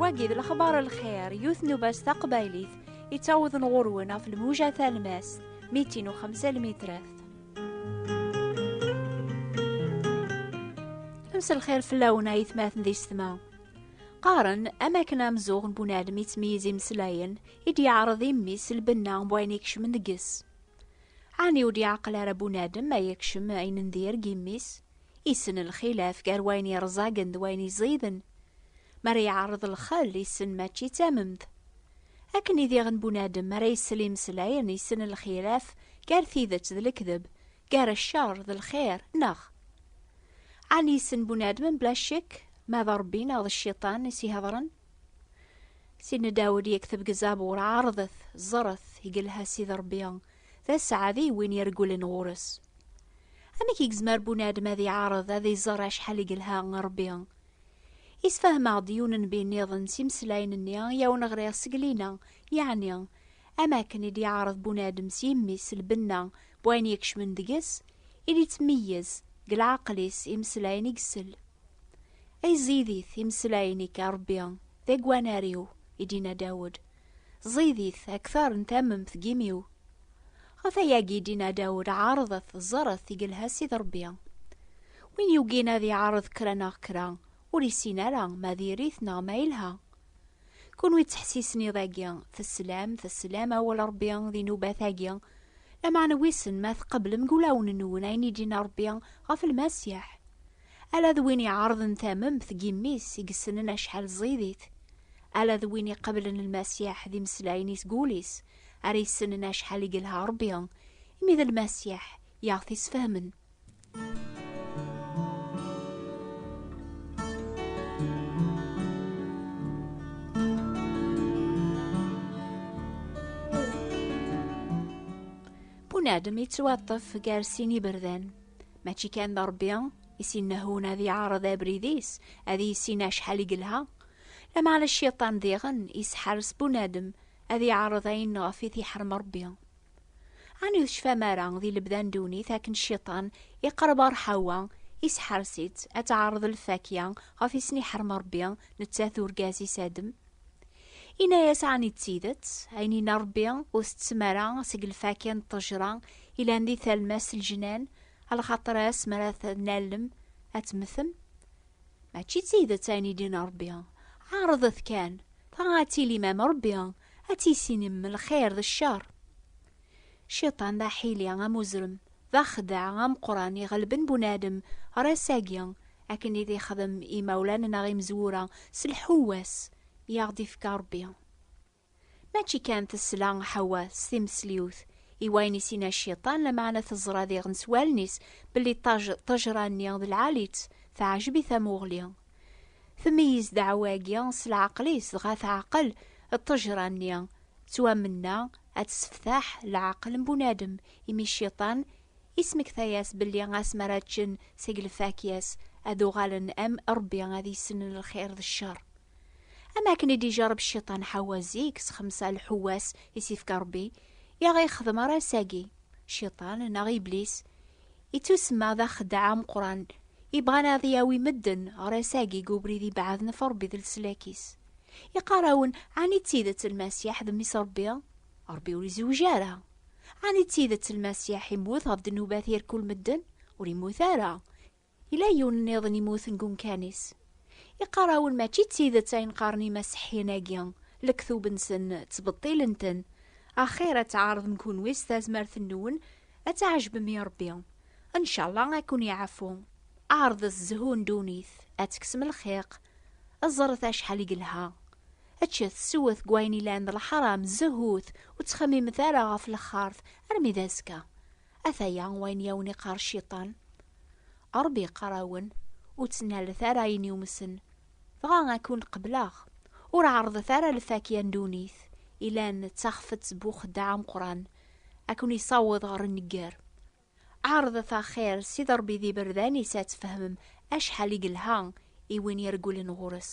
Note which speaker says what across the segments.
Speaker 1: wagi d lexbar lxir yut nubas taqbaylit yettawḍen ɣur-wen ɣef lmuja talmast mitin u xemsa lmitrat amselxir fell-awen ay tmaten di setma qqaren am akken amzuɣ n bunadem yettmeyyiz imeslayen i d-yeɛreḍ imi s lbenna n wayen ikecmen deg-s. Ɛni ur d-yeɛqel ara bunadem ay yekcem ayen n dir deg imi-s? Issen lxilaf gar wayen yerẓagen d wayen yeẓiden. Mi ara yeɛreḍ lxel, issen mačči d tamemt. Akken i diɣen bunadem ara isel imeslayen, issen lxilaf gar tidet d lekdeb, gar ccer d lxir, neɣ? Ɛni issen bunadem mebla ccek ma d Rebbi neɣ d cciṭan i s-ihedṛen? Sidna Dawed yekteb deg Zabur, Ɛerḍet, ẓret, igelha Sidi Ṛebbi, d aseɛdi i win iregglen ɣur-s. Amek i yezmer bunadem ad iɛerḍ ad iẓer acḥal igelha Ṛebbi? Isfahmeɣ-d yiwen n bi nniḍen s imeslayen-nni i awen-ɣriɣ seg lina, yeɛni, am akken i d-iɛerḍ bunadem s yimi-s lbenna n wayen yekcmen deg-s, i d-ittmeyyez, deg leɛqel-is, imeslayen i isell. Ay ẓidit imeslayen-ik, a Ṛebbi, d agwanar-iw, i d-inna Dawed, ẓidit akteṛ n tamemt deg imi-w. Ɣef ayagi i d-inna Dawed, Ɛeṛḍet, ẓret, i yelha Ssid Ṛebbi. Win yugin ad iɛeṛḍ kra neɣ kra, ur issin ara ma diri-t neɣ ma yelha. Kunwi ttḥessisen iḍ-agi, teslam, teslam awal Ṛebbi di nnubat-agi, lameɛna wissen ma tqeblem deg wulawen-nwen ayen i d-inna Ṛebbi ɣef Lmasiḥ? Ala d win iɛerḍen tamemt n yimmi-s i yessnen acḥal ẓẓidit, ala d win iqeblen Lmasiḥ d imeslayen i seg wul-is ara yessnen acḥal i yelha Rebbi, imi d Lmasiḥ i aɣ-t-isfehmen. Bunadem yettwaṭṭef gar sin iberdan. mačči kan d Ṛebbi i s-innehhun ad yeɛreḍ abrid-is, ad yissin acḥal i yelha. Lameɛna cciṭan diɣen yesḥers bunadem ad yeɛreḍ ayen ɣef i t-iḥrem Ṛebbi. Ɛni ur tecfam ara di lebda n ddunit akken cciṭan iqerreb ɣer Ḥawa, yesḥers-itt ad teɛreḍ lfakya ɣef i sen-iḥrem Ṛebbi, nettat d urgaz-is Adem? Inna-yas ɛni d tidet, ayen inna Rebbi ur tettem ara seg lfakya n ṭṭejra ilan di talmast n lejnan, alxaṭer ass mi ara t-nallem ad temmtem? Mačči d tidet ayen i d-inna Rebbi. Ɛerḍet kan, dɣa ad tilim am Rebbi, ad tissinem lxir d ccer. Cciṭan d aḥili amuzrem, d axeddaɛ ameqqran iɣelben bunadem ɣer ass-agi, Akken i d-ixdem imawlan neɣ imezwura s lḥewwas i aɣ-d-ifka Rebbi. Mačči kan tesla Ḥewwa s timesliwt i wayen i s-inna Cciṭan, lameɛna teẓra diɣen s wallen-is belli ṭṭajra-nni d lɛali-tt, teɛjeb i tamuɣli. Tmeyyez ddeɛwa-agi s leɛqel-is, dɣa teɛqel ṭṭajra-nni, ttwamenna ad tesseftaḥ leɛqel n bunadem, imi Cciṭan Ismekta-yas belli asmi ara ččen seg lfakya-s, ad uɣalen am Ṛebbi ad issnen lxir d cceṛ. Am akken i d-ijerreb Cciṭan Ḥawwa zik s xemsa lḥewwas i s-ifka Ṛebbi, i aɣ-ixdem ara ass-agi. Cciṭan, neɣ Iblis, ittusemma d axeddaɛ ameqqran, ibɣan ad yawi medden ɣer ass-agi deg ubrid ibeɛden ɣef Ṛebbi d leslak-is. Iqqar-awen, Ɛni d tidet Lmasiḥ d Mmi-s Ṛebbi? Ṛebbi ur izewweǧ ara. Ɛni d tidet Lmasiḥ immut ɣef ddnubat irkul medden? Ur immut ara. Yella yiwen nniḍen immuten deg umkan-is. Iqarrawen mačči d tidet ayen qqaren imaseḥiyen-agi, lektub-nsen ttbeṭṭilen-ten. Axir ad tɛerḍem kunwi s tazmert-nwen, ad tɛejbem i Ṛebbi. Ncallah ad ken-iɛfu. Ɛerḍet zzhu n ddunit, ad tekksem lxiq. Ẓret acḥal i yelha. Ččet, sewwet deg wayen ilan d lḥaram, zehhut, ur ttxemmimet ara ɣef lexxart, armi d azekka. Ataya wayen i awen-iqqar Cciṭan. Ṛebbi iqqar-awen, Ur ttnalet ara ayen yumsen, dɣa ad ken-qebleɣ. Ur ɛerrḍet ara lfakya n ddunit, ilan d taxfet bu uxeddaɛ ameqqran, ad ken-isaweḍ ɣer nnegger. Ɛerḍet axir s iḍerbi d iberdan-is ad tfehmem acḥal i yelha i win iregglen ɣur-s.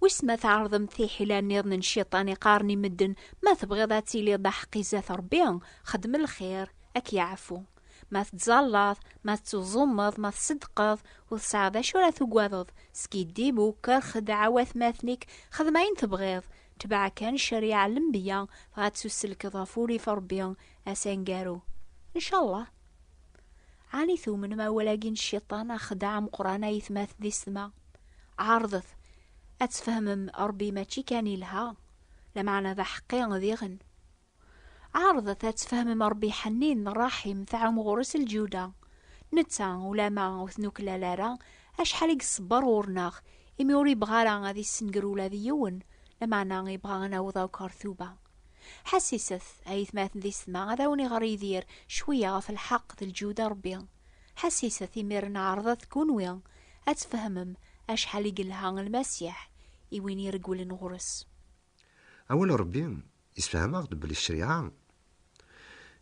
Speaker 1: Wis ma tɛerḍem tiḥila niḍen n ciṭan iqaren i medden ma tebɣiḍ ad tiliḍ d aḥeqqi zat Rebbi, xdem lxir, ad k-yeɛfu. Ma tettẓallaḍ, ma tettuẓumeḍ, ma tseddqeḍ, ur tesɛiḍ d acu ara tugadeḍ, skiddib, uker, xedɛa watmaten-ik, xdem ayen tebɣiḍ, tbeɛ kan ccariɛa n lenbeyya, dɣa ttuselkeḍ ɣef urrif n Rebbi, ass aneggaru. Ncallah. Ɛni tumnem awal-agi n cciṭan axeddaɛ ameqqran ay tmat di ssetma? Ɛerḍet ad tfehmem Ṛebbi mačči kan yelha, lameɛna d aḥeqqi diɣen. Ɛerḍet ad tfehmem Ṛebbi ḥennin, ṛṛaḥim, tɛum ɣur-s lǧuda. Netta, ulama ur t-nuklal ara, acḥal i iṣebbeṛ ɣur-neɣ, imi ur yebɣi ara ad issenger ula d yiwen, lameɛna yebɣa ad naweḍ akk ɣer tuba. Ḥassiset, a yetmaten di setma, ad awen-iɣer Yidir cwiya ɣef lḥeq d lǧuda Rebbi. Ḥassiset, imiren ɛerḍet kunwi ad tfehmem acḥal i yelha Lmasiḥ i win iregglen ɣur-s. Awal
Speaker 2: n Rebbi yessefhem-aɣ-d belli ccariɛa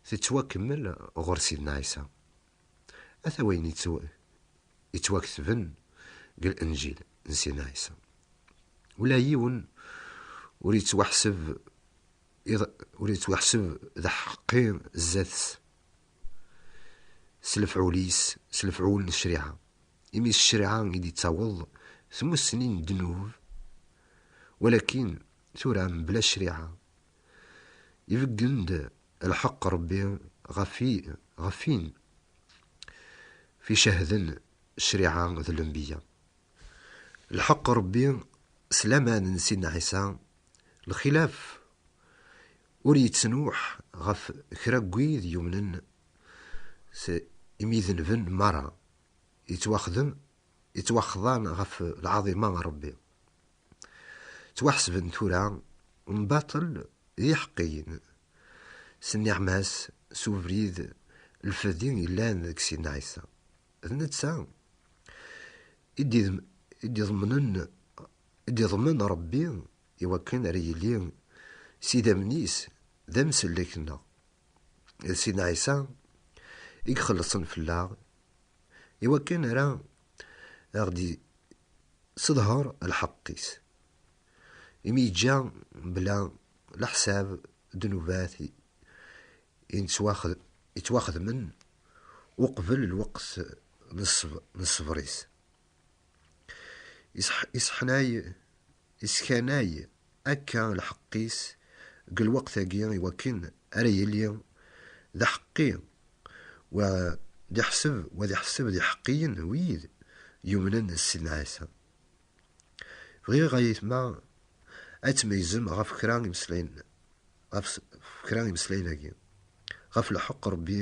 Speaker 2: tettwakemmel ɣur Sidna Ɛisa. Ata wayen yettwaketben deg Lenǧil n Sina Ɛisa. Ula yiwen ur yettwaḥseb ur yettwaḥseb d aḥeqqi zdat-s s lefɛul-is, s lefɛul n ccṛiɛa, imi s ccṛiɛa i d-yettaweḍ tmussni n ddnub, walakin tura mebla ccṛiɛa, ibeggen-d Lḥeqq Ṛebbi ɣef i, ɣef win f icehden ccṛiɛa d lenbeyya. Lḥeqq Ṛebbi s laman n Sidna Ɛisa, lxilaf ur yettnuḥ ɣef kra n wid yumnen s imidenben meṛṛa, yettwaxdem, yettwaxḍan ɣef lɛaḍima n Ṛebbi, ttwaḥesben tura n baṭel d iḥeqqiyen, s nniɛma-s, s ubrid n lfedi yellan deg Sidna Ɛisa. D netta i d-iḍemnen, i d-iḍmen Ṛebbi i wakken ara yili s idammen-is d amsellek-nneɣ. D Sidna Ɛisa i ixellṣen fell-aɣ i wakken ara a ɣ-d-yesseḍher lḥeqq-is, imi yeǧǧa bla leḥsab ddnubat yettwaxedmen uqbel lweqt n ṣṣber-is, yesseḥnay akka lḥeqq-is deg lweqt-agi i wakken ara yili d aḥeqqi u ad iḥseb u ad iḥesseb d iḥeqqiyen wid yumnen s Sidna Ɛisa. Bɣiɣ a yetma ad tmeyyzem ɣef kra imeslayen ɣef kra imeslayen-agi, ɣef lḥeqq Rebbi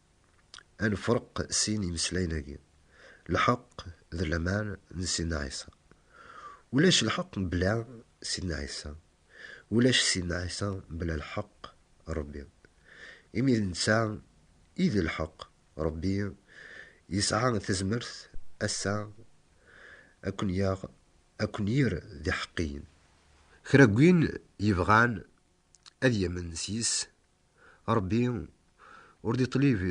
Speaker 2: ad nefreq sin imeslayen-agi, lḥeqq d laman n Sidna Ɛisa. Ulac lḥeqq mebla Sidna Ɛisa, ulac Sidna Ɛisa mebla lḥeqq n Ṛebbi. Imi d netta i d lḥeqq, Ṛebbi yesɛa tazmert ass-a ad ken-yaɣ, ad ken-yerr d iḥeqqiyen. Kra n win yebɣan ad yamen s yis, Ṛebbi ur d-iṭlib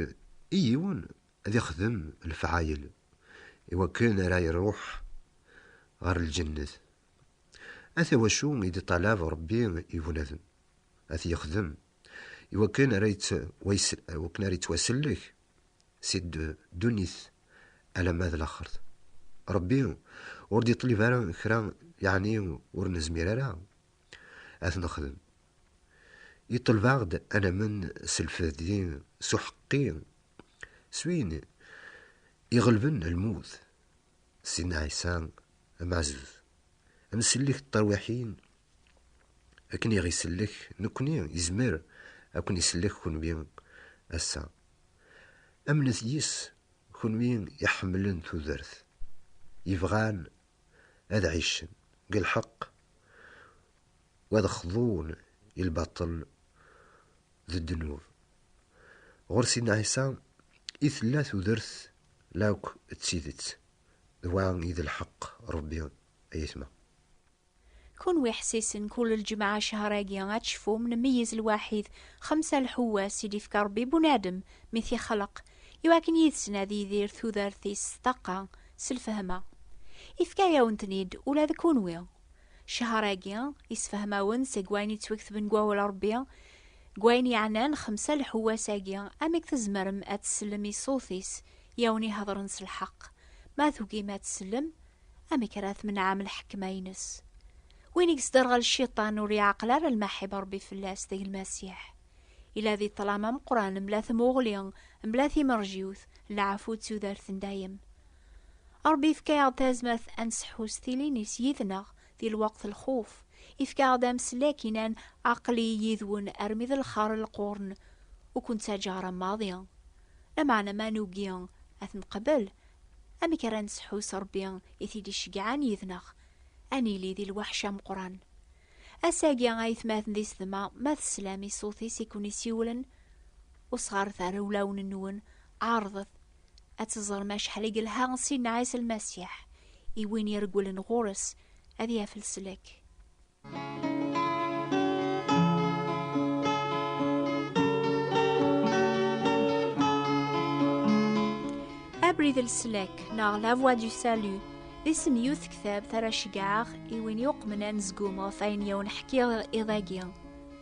Speaker 2: i yiwen ad ixdem lefɛayel i wakken ara iṛuḥ ɣer lǧennet. Ata wacu i d-iṭalab Ṛebbi i bnadem ad t-yexdem i wakken ara yeţwasellek si ddunit alamma d laxert. Ṛebbi ur d-iṭlib ara kra yeɛni ur nezmir ara ad t-nexdem. Yeṭleb-aɣ-d ad namen s lfehd-i s uḥeqqi, s win iɣelben lmut, Sidna Ɛisa Ameɛzuz, ad nsellek ṭṭerwiḥin akken i ɣ-isellek nekkni, yezmer ad ken-isellek kunwi ass-a. Amnet yis, kunwi iḥemmlen tudert, yebɣan ad ɛicen deg lḥeqq u ad xḍun i lbaṭel d ddnub. Ɣur Sidna Ɛisa i tella tudert la akk d tidet, d wa i d lḥeqq Rebbi ay aytma.
Speaker 1: Kunwi ḥessisen kul lǧemɛa ccehṛ-agi ad tecfum nmeyyez lwaḥid xemsa lḥewwas i d-ifka Rebbi i bunadem mi t-ixleq i wakken yid-sen ad yidir tudert-is s ṭṭaqa s lfehma. Ifka-yawen-ten-id ula d kunwi. Cehṛ-agi, isefhem-awen seg wayen yettweketben deg Wawal n Ṛebbi, deg wayen yeɛnan xemsa lḥewwas-agi, amek tzemrem ad tsellem i ṣṣut-is i awen-iheḍṛen s lḥeqq. Ma tugim ad tsellem, amek ara tmenɛem lḥekma-ines? Win i yesderɣel Cciṭan ur yeɛqel ara lmaḥiba n Ṛebbi fell-as, deg Lmasiḥ. Ila di ṭṭlam ameqqran, mebla tmuɣli, mebla timerjiwt, n lɛafut d tudert n dayem. Ṛebbi yefka-aɣ-d tazmert ad nseḥḥu s tilin-is yid-neɣ di lweqt lxuf. Yefka-aɣ-d ameslek inan, Aql-i yid-wen armi d lxer lqurn, ur ken-ttaǧǧaɣ ara maḍi. Lameɛna ma nugi ad t-neqbel, amek ara nseḥḥu s Ṛebbi i t-id-iceggɛen yid-neɣ? Ad nili di lweḥc ameqqran. Ass-agi, aytmaten di sdma, ma teslam i ṣṣut-is i ken-isiwlen, usɣaret ar ulawen-nwen, ɛerḍet, ad teẓrem acḥal i yelha Sidna Ɛisa Lmasiḥ i win iregglen ɣur-s ad yaf leslak. Abrid leslak neɣ La Voix du Salut d isem yiwet tektabt ara ceggɛeɣ i win yuqmen anezgum ɣef ayen yawen ḥkiɣ iḍ-agi.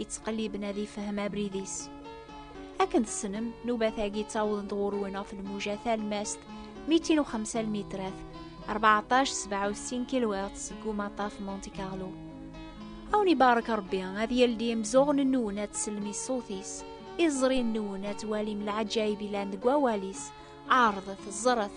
Speaker 1: yettqelliben ad ifhem abrid-is akken tessnem nubat-agi ttawḍen-d ɣur-wen ɣef lmuja talmast 205 lmitrat 1467 kilwert seg umaṭaf Monte Carlo awen ibarek Rebbi ad yeldi imzuɣen-nwen ad tsellem i ṣṣut-is iẓri-nwen ad twalim lɛaǧayib ilan deg wawal-is ɛerḍet ẓret